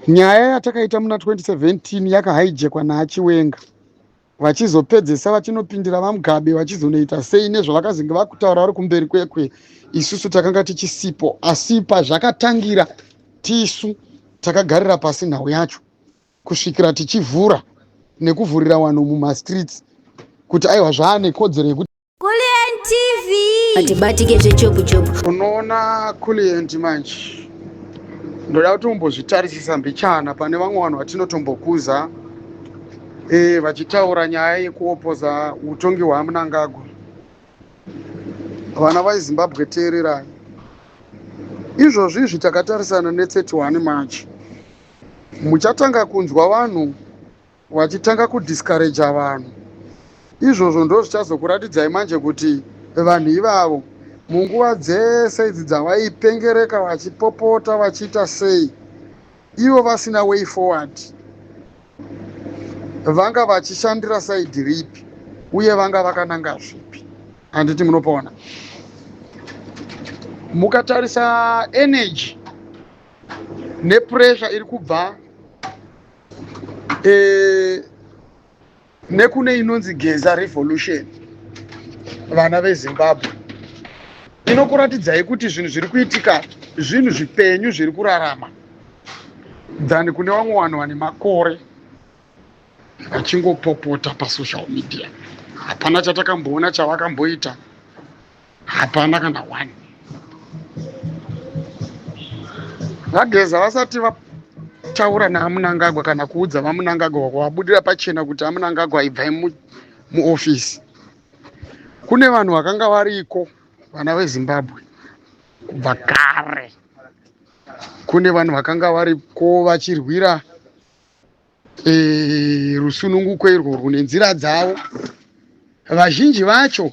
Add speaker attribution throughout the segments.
Speaker 1: Nyaya yatakaita muna 2017 yakahaijekwa naachiwenga vachizopedzesa vachinopindira vamugabe vachizonoita sei nezvavakazenge vakutaura vari kumberi kwekwe isusu takanga tichisipo asi pazvakatangira tisu takagarira pasi nhau yacho kusvikira tichivhura nekuvhurira vanhu mumastreets kuti aiwa zvaane kodzero yekuti Kulliant TV
Speaker 2: hatibatike zvechopu chopu. Unoona
Speaker 1: Kulliant manje ndoda kuti umbozvitarisisa mbichana pane vamwe vanhu vatinotombokuza e, vachitaura nyaya yekuopoza utongi hwamunangagwa vana vaizimbabwe teererai izvozvi izvi takatarisana ne 31 march muchatanga kunzwa vanhu wachitanga kudiscourager vanhu izvozvo ndozvichazokuratidzai manje kuti vanhu ivavo munguva dzese idzi dzavaipengereka vachipopota vachiita sei ivo vasina way forward vanga vachishandira saidi ripi uye vanga vakananga zvipi handiti munopaona mukatarisa energy nepressure iri kubva e, nekune inonzi geza revolution vana vezimbabwe inokuratidzai kuti zvinhu zviri kuitika zvinhu zvipenyu zviri kurarama than kune vamwe vanhu vane makore vachingopopota pasocial media hapana chatakamboona chavakamboita hapana kana one vageza vasati vataura naamunangagwa kana kuudza vamunangagwa kwavabudira pachena kuti amunangagwa ibvai muofisi mu kune vanhu vakanga variko vana vezimbabwe kubva kare kune vanhu vakanga variko vachirwira Eh, rusununguko irwo rune nzira dzavo vazhinji vacho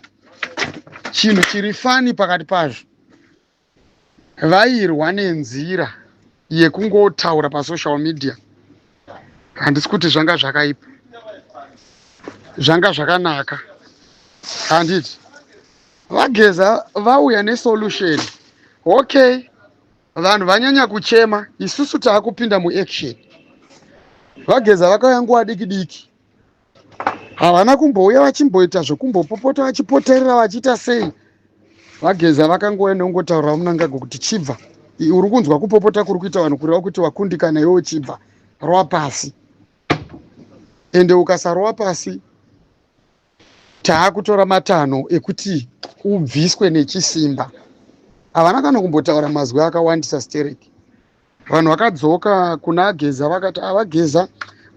Speaker 1: chinhu chiri fani pakati pazvo vairwa nenzira yekungotaura pasocial media handisi kuti zvanga zvakaipa zvanga zvakanaka handiti vageza vauya nesolution okay vanhu vanyanya kuchema isusu taakupinda muaction vageza vakauya nguva diki diki havana kumbouya vachimboita zvekumbopopota vachipoterera vachiita sei vageza vakangouya neungotaurira munangago kuti chibva uri kunzwa kupopota kuri kuita vanhu kureva kuti wakundikana iwe uchibva rova pasi ende ukasarowa pasi Taakutora matanho ekuti ubviswe nechisimba. Havana kana kumbotaura mazwi akawandisa Sterek. Vanhu vakadzoka kuna Geza vakati avageza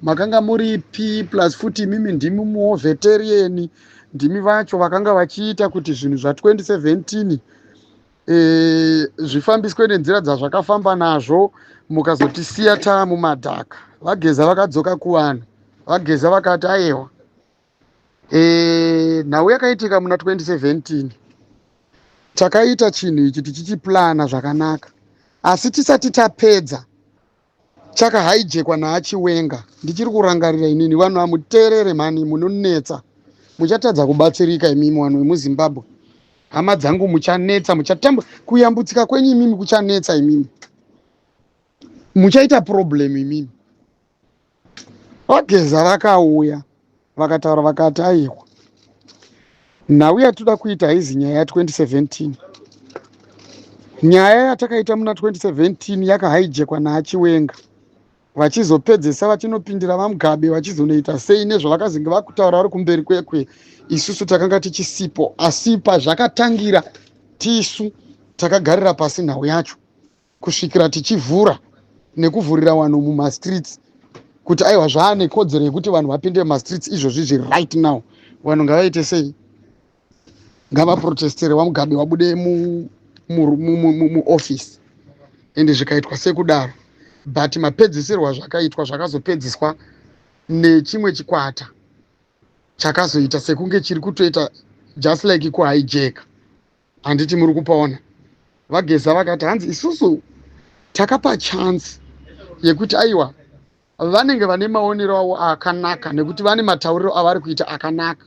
Speaker 1: makanga muripi plus futi imimi ndimi muoveterieni ndimi vacho vakanga vachiita kuti zvinhu zva 2017 e, zvifambiswe nenzira dzazvakafamba nazvo mukazotisiya taa mumadhaka vageza vakadzoka kuvanhu vageza vakati ayewa e, nhau yakaitika muna 2017 takaita chinhu ichi tichichiplana zvakanaka asi tisati tapedza chakahaijekwa naachiwenga ndichiri kurangarira inini vanhu hamuteerere mhani munonetsa muchatadza kubatsirika imimi vanhu vemuzimbabwe hama dzangu muchanetsa muchatamba kuyambutsika kwenyu imimi kuchanetsa imimi muchaita problem imimi Vageza vakauya vakataura vakati aiwa nhau yatinoda kuita haizi nyaya ya 2017 nyaya yatakaita muna 2017 yakahaijekwa naachiwenga vachizopedzesa vachinopindira vamugabe vachizonoita sei nezvavakazenge vakutaura vari kumberi kwekwe isusu takanga tichisipo asi pazvakatangira tisu takagarira pasi nhau yacho kusvikira tichivhura nekuvhurira vanhu mumastreets kuti aiwa zvaane kodzero yekuti vanhu vapinde mumastreets izvozvi zviri right now vanhu ngavaite sei ngavaprotestere vamugabe vabude muoffice and zvikaitwa sekudaro but mapedzisirwo azvakaitwa zvakazopedziswa nechimwe chikwata chakazoita sekunge chiri kutoita just like kuhijack handiti muri kupaona vageza vakati hanzi isusu takapa chance yekuti aiwa vanenge vane maonero avo akanaka nekuti vane matauriro avari kuita akanaka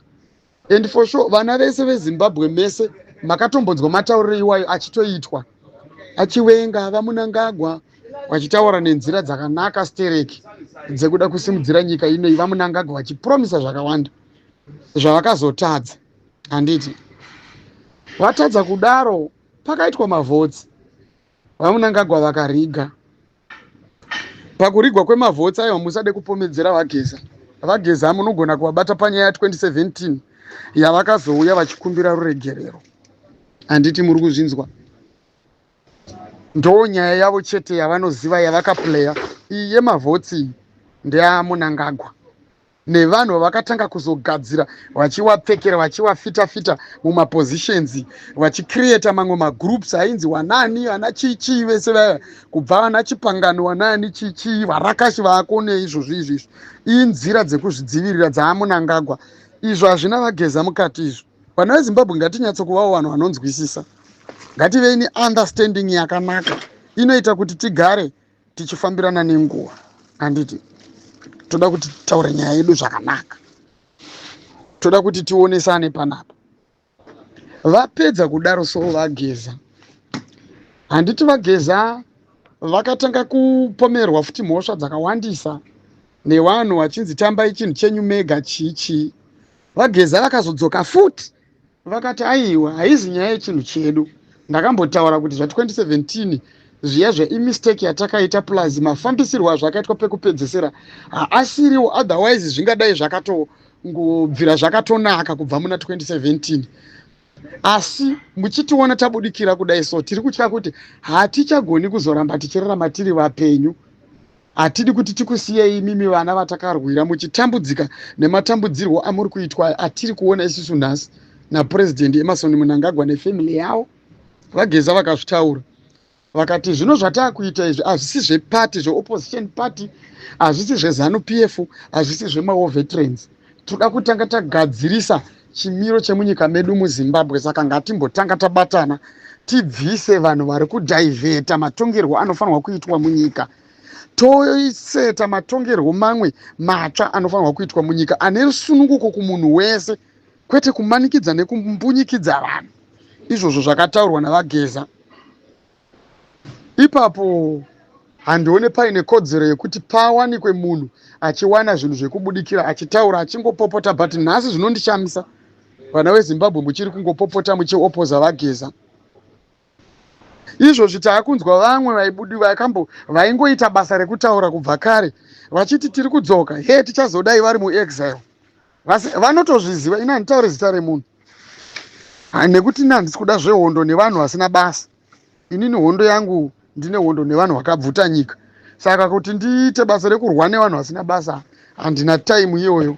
Speaker 1: and for sure vana vese vezimbabwe mese makatombodzwa matauriro iwayo achitoitwa achiwenga vamunangagwa vachitaura nenzira dzakanaka stereki dzekuda kusimudzira nyika inoi vamunangagwa vachipromisa zvakawanda zvavakazotadza handiti vatadza kudaro pakaitwa mavhotsi vamunangagwa vakariga pakurigwa kwemavhotsi ayo hamusade kupomedzera vageza vageza munogona kuvabata panyaya ya 2017 yavakazouya vachikumbira ruregerero handiti muri kuzvinzwa ndoo nyaya yavo chete yavanoziva yavakaplaya iyi yemavhotsi ndeyamunangagwa nevanhu vavakatanga kuzogadzira vachiwapfekera vachiwafita fita mumapositions vachicreata mamwe magroups ainzi wanaani vana chii chii vese vaya kubva vana chipangano wanaani chii chii varakashi vaakone izvozvi izvi izvi inzira dzekuzvidzivirira dzaamunangagwa izvo hazvina vageza mukati izvo vana vezimbabwe ngatinyatsokuvawo vanhu vanonzwisisa ngativei neunderstanding yakanaka inoita kuti tigare tichifambirana nenguva handiti toda kuti taure nyaya yedu zvakanaka toda kuti tionesane panapa vapedza kudaro so vageza handiti vageza vakatanga kupomerwa futi mhosva dzakawandisa nevanhu vachinzi tambai chinhu chenyu mega chii chii vageza vakazodzoka futi Vakati aiwa haizi nyaya yechinhu chedu ndakambotaura kuti zva 2017 zviya zva imistake yatakaita plus mafambisirwo azvakaitwa pekupedzesera haasiriwo otherwise zvingadai zvakatongobvira zvakatonaka kubva muna 2017 asi muchitiona tabudikira kudai so tiri kutya kuti hatichagoni kuzoramba tichirarama tiri vapenyu Hatidi kuti tikusiyei imimi vana vatakarwira muchitambudzika nematambudzirwo amuri kuitwa aya atiri kuona isusu nhasi naPresident Emerson Mnangagwa nefamily yavo, VaGeza vakazvitaura vakati zvino zvataakuita izvi hazvisi zveparty zveopposition party hazvisi zvezanu PF hazvisi zvemaovetrans tinoda kutanga tagadzirisa chimiro chemunyika medu muzimbabwe saka ngatimbotanga tabatana tibvise vanhu vari kudhaivheta matongerwo anofanirwa kuitwa munyika toiseta matongerwo mamwe matsva anofanirwa kuitwa munyika ane rusununguko kumunhu wese kwete kumanikidza nekumbunyikidza vanhu izvozvo zvakataurwa navageza Ipapo handione paine kodzero yekuti pawanikwe munhu achiwana zvinhu zvekubudikira achitaura achingopopota but nhasi zvinondishamisa vana vezimbabwe muchiri kungopopota muchiopoza vageza izvozvi taakunzwa vamwe vaibudi vakambo vaingoita basa rekutaura kubva kare vachiti tiri kudzoka hee tichazodai vari muexile vase vanotozviziva ini handitaure zita remunhu nekuti ini handisi kuda zvehondo nevanhu vasina basa inini hondo yangu ndine hondo nevanhu vakabvuta nyika saka kuti ndiite basa rekurwa nevanhu vasina basa handina taimu iyoyo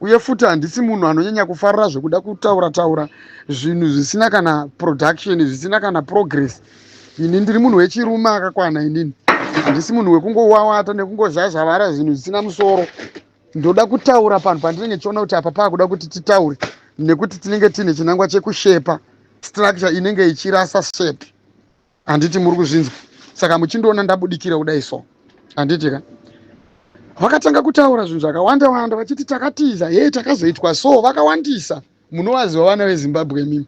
Speaker 1: uye futi handisi munhu anonyanya kufarira zvekuda kutaura taura zvinhu zvisina kana production zvisina kana progress ini ndiri munhu wechirume akakwana inini handisi munhu wekungowawata nekungozhazhavara zvinhu zvisina musoro ndoda kutaura panhu pandinenge ndichiona kuti apa paakuda kuti titaure nekuti tinenge tiine chinangwa chekushepa structure inenge ichirasa shape handiti muri kuzvinzwa saka muchindiona ndabudikira kudai so handiti ka vakatanga kutaura zvinhu zvakawanda wanda vachiti takatiza hee takazoitwa so vakawandisa munovaziva vana vezimbabwe mimi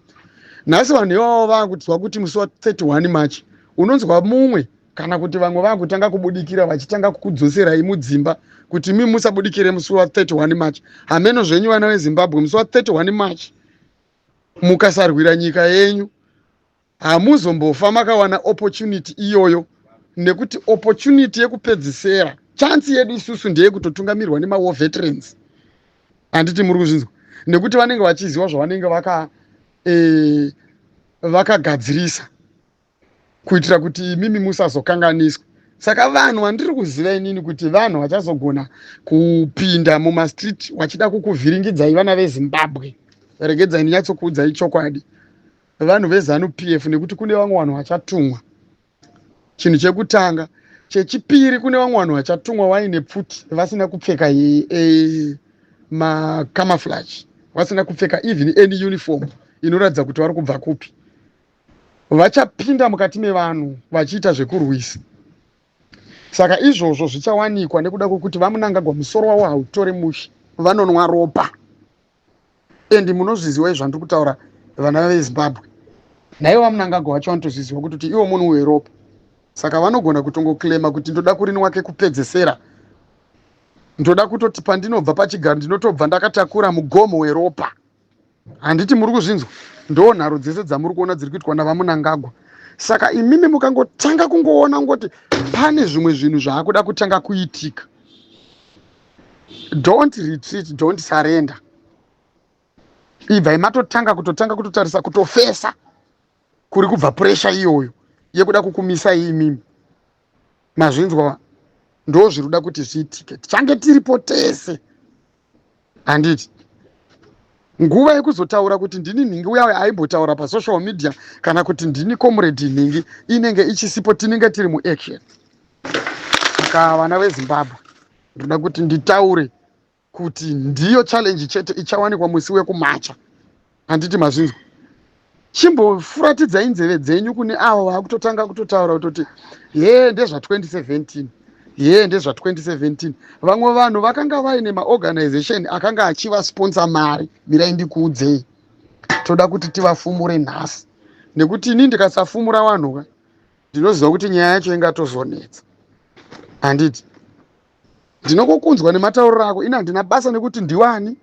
Speaker 1: nhasi vanhu ivavo vakutinzwa kuti musi wa 31 march unonzwa mumwe kana kuti vamwe vakutanga kubudikira vachitanga kukudzoserai mudzimba kuti mi musabudikire musi wa 31 march hameno zvenyu vana vezimbabwe musi wa 31 march mukasarwira nyika yenyu hamuzombofa makawana opportunity iyoyo nekuti opportunity yekupedzisera chansi yedu isusu ndeyekutotungamirwa nemawar veterans handiti muri kuzvinzwa nekuti vanenge vachiziva zvavanenge vaka e, vakagadzirisa kuitira kuti imimi musazokanganiswa saka vanhu vandiri kuziva inini kuti vanhu vachazogona kupinda mumastreet vachida kukuvhiringidzai vana vezimbabwe regedzai ndinyatsokuudzai chokwadi vanhu vezanu p f nekuti kune vamwe vanhu vachatumwa chinhu chekutanga chechipiri kune vamwe vanhu vachatumwa vaine pfuti vasina kupfeka e, e, macamaflage vasina kupfeka even any uniform inoratidza kuti vari kubva kupi vachapinda mukati mevanhu vachiita zvekurwisa saka izvozvo zvichawanikwa nekuda kwekuti vamunangagwa musoro wavo hautore mushe vanonwa ropa endi munozviziwa izvandiri kutaura vana vezimbabwe naivo vamunangagwa vacho vanotozviziwa kuti kuti ivo munhu weropa saka vanogona kutongoclaima kuti ndoda kurinwa kekupedzesera ndoda kutoti pandinobva pachigaro ndinotobva ndakatakura mugomo weropa handiti muri kuzvinzwa ndo nharo dzese dzamuri kuona dziri kuitwa navamunangagwa saka imimi mukangotanga kungoona kungoti pane zvimwe zvinhu zvaakuda kutanga kuitika don't retreat don't surrender ibvai matotanga kutotanga kutotarisa kutofesa kuri kubva puresha iyoyo yekuda kukumisa imimi mazvinzwa ndo zviri kuda kuti zviitike tichange tiripo tese handiti nguva yekuzotaura kuti ndini nhingi uya aimbotaura pasocial media kana kuti ndini comrade nhingi inenge ichisipo tinenge tiri muaction saka vana vezimbabwe ndoda kuti nditaure kuti ndiyo challenge chete ichawanikwa musi wekumacha handiti mazvinzwa chimbofuratidza inzeve dzenyu kune avo vakutotanga kutotaura kutoti hee ndezva 2017 hee ndezva 2017 vamwe vanhu vakanga vaine maorganization akanga achivasponsa mari mirai ndikuudzei toda kuti tivafumure nhasi nekuti ini ndikasafumura vanhuka ndinoziva kuti nyaya yacho ingatozonetsa handiti Ndinokokunzwa nematauriro ako ini handina basa nekuti ndiwani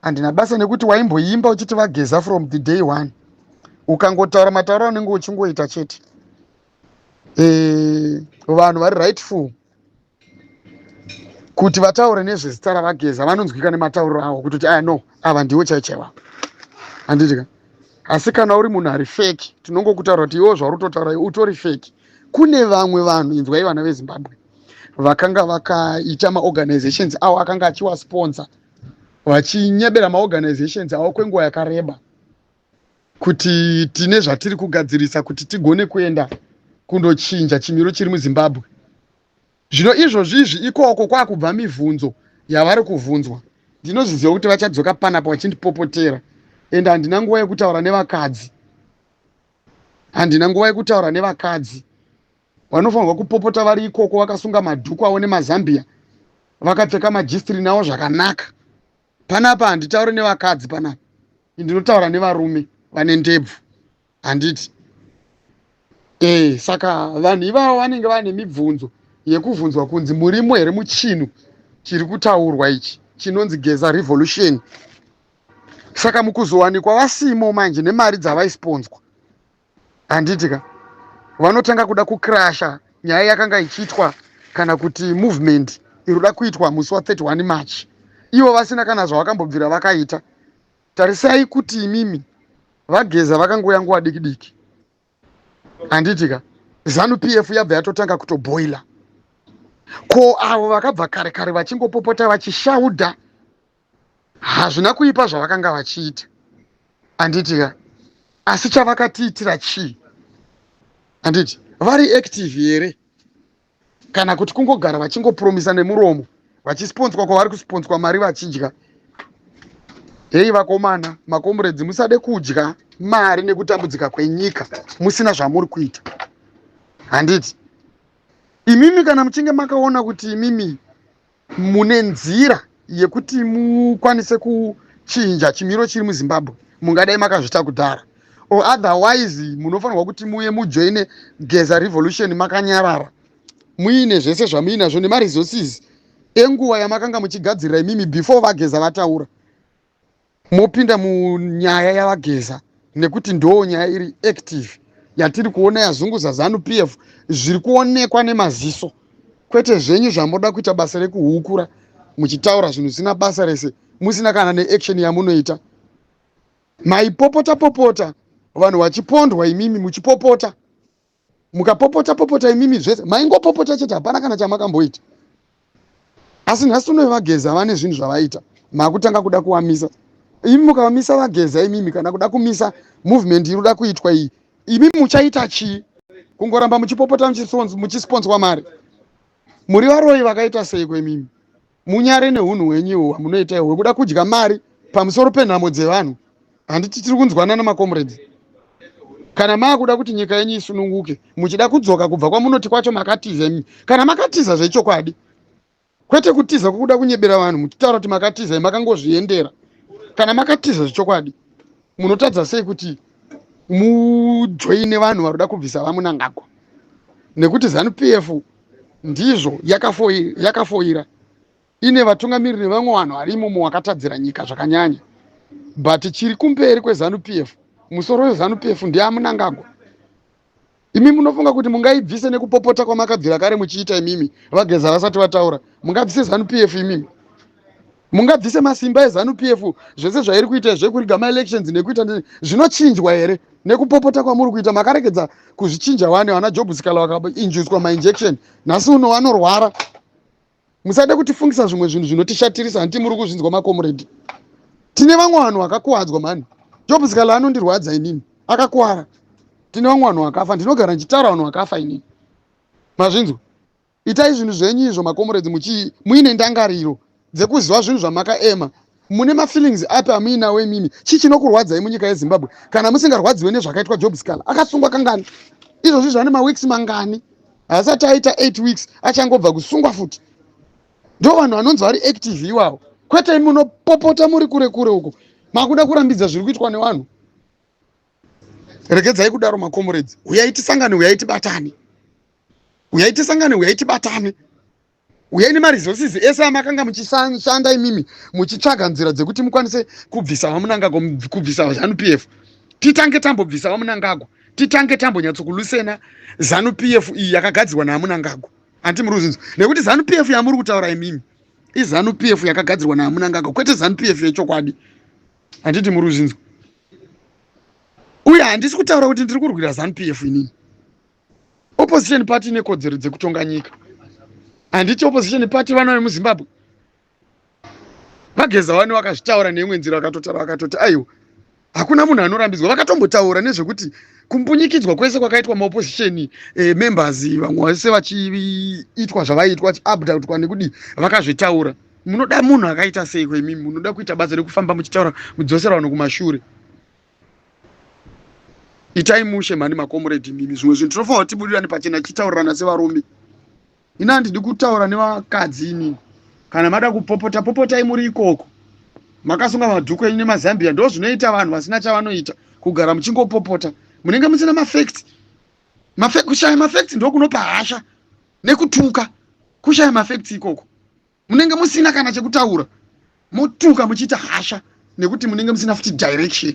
Speaker 1: handina basa nekuti waimboimba uchiti vageza from the day one ukangotaura matauriro anenge uchingoita chete eh, vanhu vari rightful kuti vataure nezvezita ravageza vanonzwika nematauriro avo kutoti aya no ava ndiwo chaichaiwa handiti ka asi kana uri munhu ari feki tinongokutaura kuti iwo zvauri utotaura utori feki kune vamwe vanhu inzwai vana vezimbabwe vakanga vakaita maorganizations avo akanga achiwasponsor vachinyebera maorganizations avo kwenguva yakareba kuti tine zvatiri kugadzirisa kuti tigone kuenda kundochinja chimiro chiri muzimbabwe zvino izvozvi izvi ikoko kwakubva mivhunzo yavari kuvhunzwa ndinozviziva kuti vachadzoka panapa vachindipopotera ende handina nguva yekutaura nevakadzi handina nguva yekutaura nevakadzi vanofanirwa kupopota vari ikoko vakasunga madhuku avo nemazambiya vakapfeka majistrini avo zvakanaka panapa handitaure nevakadzi panapa ndinotaura nevarume vane ndebvu handiti e saka vanhu ivavo vanenge vane mibvunzo yekuvhunzwa kunzi murimo here muchinhu chiri kutaurwa ichi chinonzi geza revolution saka mukuzowanikwa vasimo manje nemari dzavaisponswa handiti ka vanotanga kuda kucrasha nyaya yakanga ichiitwa kana kuti movement iroda kuitwa musi wa 31 march ivo vasina kana zvavakambobvira vakaita tarisai kuti imimi vageza vakangouya nguva diki diki handiti ka zanu p f yabva yatotanga kutoboila ko avo vakabva kare kare vachingopopota vachishauda Hazvina kuipa zvavakanga vachiita, handiti ka? Asi chavakatiitira chii? Handiti vari active here kana kuti kungogara vachingopromisa nemuromo vachisponswa kwavari kusponswa mari vachidya? Heyi vakomana, makomuredzi, musade kudya mari nekutambudzika kwenyika musina zvamuri kuita, handiti? Imimi kana muchinge makaona kuti imimi mune nzira yekuti mukwanise kuchinja chimiro chiri muzimbabwe mungadai makazvita kudhara or otherwise munofanirwa kuti muye mujoine geza revolution makanyarara muine zvese zvamuinazvo nemaresources enguva yamakanga muchigadzirira imimi before vageza vataura mopinda munyaya yavageza nekuti ndoo nyaya iri active yatiri kuona yazunguza zanu p f zviri kuonekwa nemaziso kwete zvenyu zvamoda kuita basa rekuhukura muchitaura zvinhu zvisina basa rese musina kana neaction yamunoita maipopota popota vanhu vachipondwa imimi muchipopota mukapopota popota imimi zvese maingopopota chete hapana kana chamakamboita asi nhasi unoyo vageza vane zvinhu zvavaita makutanga kuda kuwamisa imi mukavamisa vageza imimi kana kuda kumisa movement iri kuda kuitwa iyi imimi muchaita chii kungoramba muchipopota muchisponswa mari muri varoyi vakaita seiko imimi munyare nehunhu hwenyu ihwo hwamunoita ihwo hwekuda kudya mari pamusoro penhamo dzevanhu handiti tiri kunzwanana makomrades kana maakuda kuti nyika yenyu isununguke muchida kudzoka kubva kwamunoti kwacho makatiza imi kana makatiza zvechokwadi kwete kutiza kwokuda kunyebera vanhu muchitaura kuti makatiza makangozviendera kana makatiza zvechokwadi munotadza sei kuti mujoine vanhu vari kuda kubvisa vamunangagwa nekuti zanu p f ndizvo yakafoira ine vatungamiriri nevamwe vanhu vari imomo wakatadzira nyika zvakanyanya but chiri kumberi kwezanu p f musoro wezanu p f ndiye amunangagwa Imi munofunga kuti mungaibvise nekupopota kwamakabvira kare muchiita imimi vageza vasati vataura mungabvise zanu pf imimi mungabvise masimba ezanu pf zvese zvairi kuita zvekuriga maelections nekuita zvinochinjwa here nekupopota kwamuri kuita makaregedza kuzvichinja wani vana job sikala vakainjuswa mainjection nhasi uno vanorwara musade kutifungisa zvimwe zvinhu zvinotishatirisa hanti muri kuzvinzwa makomuredi tine vamwe vanhu vakakuwadzwa mhani job zikala anondirwadza inini akakuwara tine vamwe vanhu vakafa ndinogara ndichitaura vanhu vakafa inini mazvinzwa itai zvinhu zvenyu izvo makomuredi muine ndangariro dzekuziva zvinhu zvamakaema mune mafeelings api amuinawo imimi chii chinokurwadzai munyika yezimbabwe kana musingarwadziwe nezvakaitwa job scal akasungwa kangani izvozvi zvane maweeks mangani haasati aita eight weeks achangobva kusungwa futi ndo vanhu vanonzi vari active iwawo kwete imi munopopota muri kure kure uko makuda kurambidza zviri kuitwa nevanhu regedzai kudaro makomuredzi uyai tisangane uyai tibatane uyai tisangane uyai tibatane uyai nemaresources ese amakanga muchishanda imimi muchitsvaga nzira dzekuti mukwanise kubvisa vamunangagwa kubvisa vazanu p f titange tambobvisa vamunangagwa titange tambonyatsokulusena zanu p f iyi yakagadzirwa naamunangagwa hanti muri kuzvinzwa nekuti zanu p f yamuri kutaura imimi izanu p f yakagadzirwa naamunangagwa kwete zanu p f yechokwadi handiti muri kuzvinzwa uye handisi kutaura kuti ndiri kurwira zanu p f inini Opposition party ine kodzero dzekutonga nyika. Handiti opposition party vana vemuZimbabwe vageza wani vakazvitaura neimwe nzira vakatotaura vakatoti aiwa hakuna munhu anorambidzwa vakatombotaura nezvekuti kumbunyikidzwa kwese kwakaitwa maopposition e, eh, members vamwe vese vachiitwa zvavaiitwa vachibdutwa nekudii vakazvitaura munoda munhu akaita seiko imi munoda kuita basa rekufamba muchitaura mudzosera vanhu kumashure itai mushe mhani makomuredi imimi zvimwe zvinhu tinofanira tibudirane pachena tichitaurirana sevarume ini handidi kutaura nevakadzi imimi kana mada kupopota popotai muri ikoko makasunga madhuku enyu nemazambia ndo zvinoita vanhu vasina chavanoita kugara muchingopopota munenge musina mafacts kushaya mafacts ndokunopa hasha nekutuka kushaya mafacts ikoko munenge musina kana chekutaura motuka muchiita hasha nekuti munenge musina futi direction